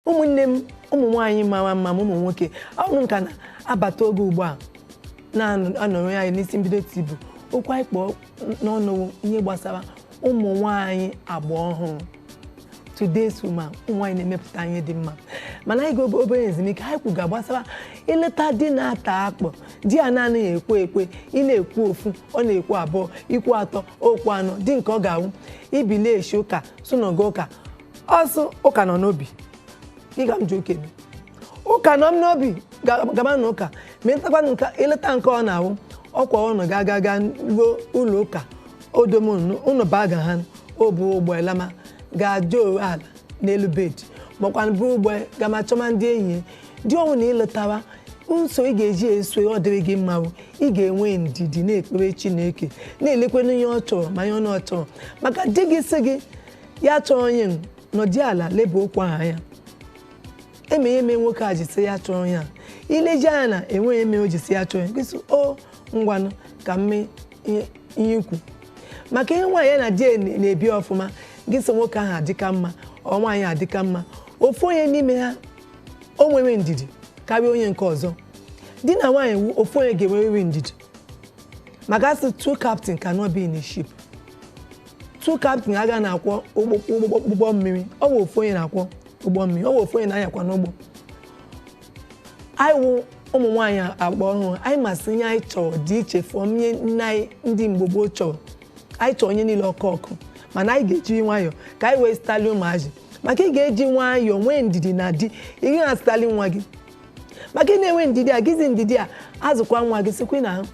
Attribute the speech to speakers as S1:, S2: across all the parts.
S1: ụmụnne m ụmụ nwaanyị mara mma ma ụmụ nwoke ụnụ ka na-abata oge ugbu a na-anọrọ anyị n'isi mbido tibu okwu anyị kpọọ n'ọnụ ihe gbasara ụmụ nwaanyị agba ọhụrụ today's woman ụmụ nwaanyị na-emepụta ihe dị mma mana anyị gaa obere ezumike anyị kwuga gbasara ịlụta di na-ata akpụ di a na-anaghị ekwe ekwe ị na-ekwu ofu ọ na-ekwu abụọ i kwuo atọ o kwuo anọ di nke ọ ga-awụ i bilie eshi ụka sị ụnụ gaa ụka ọ sị ụka nọ n'obi ịga m ji ụka eme. ụka nọ m n'obi ga- gaba na ụka ma ị lụtakwa nke ị lụta nke ọ na-awụ ọkwa ụnụ ga aga ga ruo ụlọ ụka o dome ụnụ baa ga ha o buru ụgbọ ya lama ga-aja owe ala n'elu bed makwa buru ụgbọ gama chọma ndị enyi ya. di ọ wụna ị lụtawa nso ị ga-eji eso ọ dịrị gị mma bụ ị ga-enwe ndidi na-ekpere chineke na-elekwana ihe ọ chọrọ ma ihe ọ na-achọrọ maka di gị sị gị ya achọrọ ihe a nọdị ala leba okwu ahụ anya ị ma ihe mere nwoke a ji sị ya achọrọ ihe a i leji anya na e nweghị ihe mere o ji sị ya achọrọ ihe gị sị o ngwanụ ka m mee ihe ihe i kwu maka ị hụ nwaanyị ya na di ya na- na-ebi ọfụma gị sị nwoke ahụ adịka mma or nwaanyị adịka mma ofu onye n'ime ha o nwere ndidi karịa onye nke ọzọ di na nwaanyị wu ofu onye ga-enwerịrị ndidi maka a sị two captain cannot be in a ship two captain aga na-akwọ ụgbọ mmiri ọ bụ ofu onye na-akwọ ụgbọ mmiri ọ bụ ofu onye na-anyakwanụ ụgbọ anyị wụ ụmụ nwaanyị agba ọhụrụ anyị ma sị ihe anyị chọrọ dị iche from ihe nne anyị ndị mgbe gboo chọrọ anyị chọrọ ihe niile ọkụ ọkụ mana anyị ga-eji nwayọọ ka anyị wee zụtali ụmụazị maka ị ga-eji nwayọọ nwee ndidi na di ị ga-azụtali nwa gị maka ị na-enwe ndidi a ejizi ndidi a azụkwa nwa gị sikwa na ahụ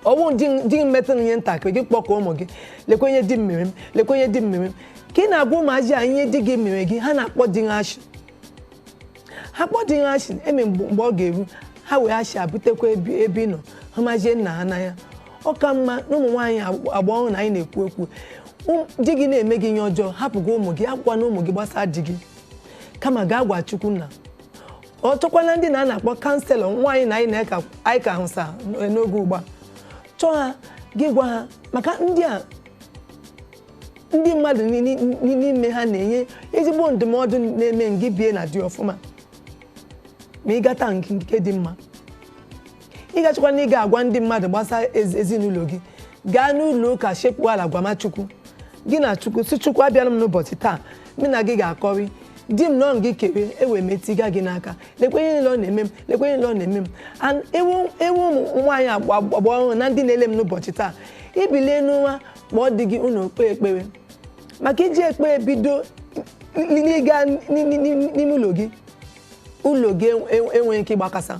S1: ọ bụ di m- di m metụ ihe ntakịrị gị kpọkọ ụmụ gị lekwa ihe di m mere m lekwa ihe di m mere m ka ị na-agwa ụmụazị a ihe di gị mere gị ha na-akpọ di ahụ ashị ha kpọọ di ahụ ashị eme mgbe mgbe ọ ga-eru ha wee ashị a butekwa ebe ebe ị nọ hụmazie nna ha n'anya ọ ka mma na ụmụ nwaanyị agba agba ọhụrụ na anyị na-ekwu ekwu Ụm- di gị na-eme gị ihe ọjọọ hapụgo ụmụ gị akọkwana ụmụ gị gbasara di gị kama gaa gwa chukwu nna or chọkwaa ndị na a na-akpọ counsellor nwaanyị na anyị na eka- anyị ka hụsa n'oge ugbu a chọọ ha gị gwa ha maka ndị a ndị mmadụ ni- ni- ni- n'ime ha na-enye ezigbo ndụmọdụ na-eme ngị bie na di ọfụma ma ị gata nke nke dị mma ị gachikwa na ị ga-agwa ndị mmadụ gbasara ezi- ezinụlọ gị gaa n'ụlọ ụka sekpuo ala gwama chukwu gị na chukwu sị chukwu abịara m n'ụbọchị taa mụ na gị ga-akọrị di m na ọ gị kere ewe m tiga gị n'aka lekwa ihe niile ọ na-eme m lekwa ihe niile ọ na-eme m An- ewu ewu ụmụ nwaanyị agba agba ọhụrụ na ndị na-ele m n'ụbọchị taa i bilie n'ụra kpọọ di gị unu kpee ekpere maka i ji ekpere bido n'ịga n'ime ụlọ gị ụlọ gị enwe- enweghị ike ịgbakasa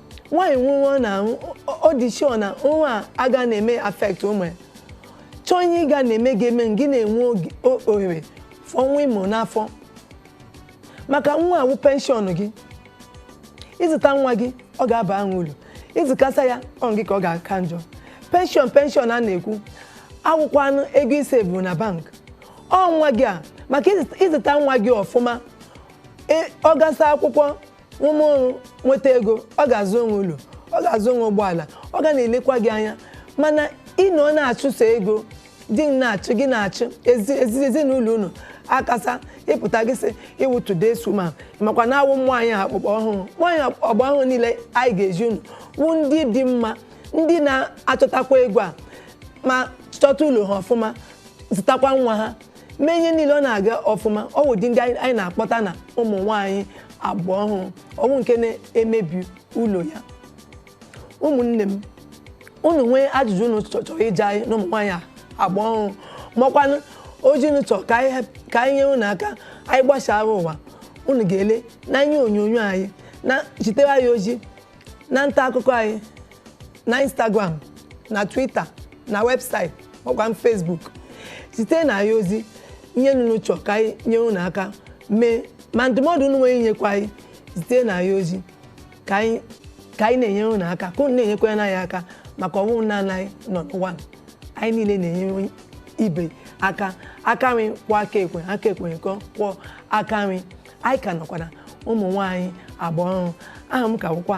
S1: nwaanyị nwụọ na ọ dị sure na nwa a aga na-eme affect ụmụ ya chọọ ihe ị ga na-eme ga-eme gị na-enwe oge- o- ohere for nwa ị mụ n'afọ maka nwa wụ penshọn gị ị zụta nwa gị ọ ga-aba ahụ uru ị zụkasa ya ọ gị ka ọ ga-aka njọ penshọn penshọn a na-ekwu awụkwanụ ego ị save na bank ọ nwa gị a maka ịzụta- ịzụta nwa gị ọfụma e- ọ gasa akwụkwọ rụma ọrụ nweta ego ọ ga-azụnwu ụlọ ọ ga-azụnwu ụgbọala ọ ga na-elekwa gị anya mana ị nọ na-achụso ego di na-achụ gị na-achụ ezi- ezi- ezinụlọ unu akasa ị pụta gị sị ị wụ today's woman makwa na awụ nwaanyị agba agba ọhụrụ nwaanyị agba ọhụrụ niile anyị ga-ezi unu wụ ndị dị mma ndị na-achọtakwa ego a ma chọta ụlọ ha ọfụma zụtakwa nwa ha mee ihe niile ọ na-aga ọfụma ọ wụ ụdị ndị anyị anyị na-akpọta na ụmụ nwaanyị agba ọhụrụ ọ wụghị nke na-emebi ụlọ ya ụmụnne m unu nwee ajụjụ unu chọ- chọrọ ịjụ anyị na ụmụ nwaanyị a agba ọhụrụ makwanụ ozi unu chọrọ ka anyị hep- ka anyị nyere unu aka anyị gbasaara ụwa unu ga-ele na ihe onyonyo anyị na zitere anyị ozi na nta akụkọ anyị na instagram na twitter na webụsaịtị makwanụ facebook zitenụ anyị ozi ihe unu chọ ka anyị nyere unu aka mee ma ndụmọdụ unu nwere inyekwa anyị zitenụ anyị ozi ka anyị ka anyị na-enyere unu aka ka unu na-enyekwara anyị aka maka ọ wụ na anyị nọ n'ụwa anyị niile na-enyere ibe aka aka nri kwọ aka ekpe aka ekpe kwọ aka nri anyị ka nọkwa na ụmụ nwaanyị agba ọhụrụ aha m ka bụkwa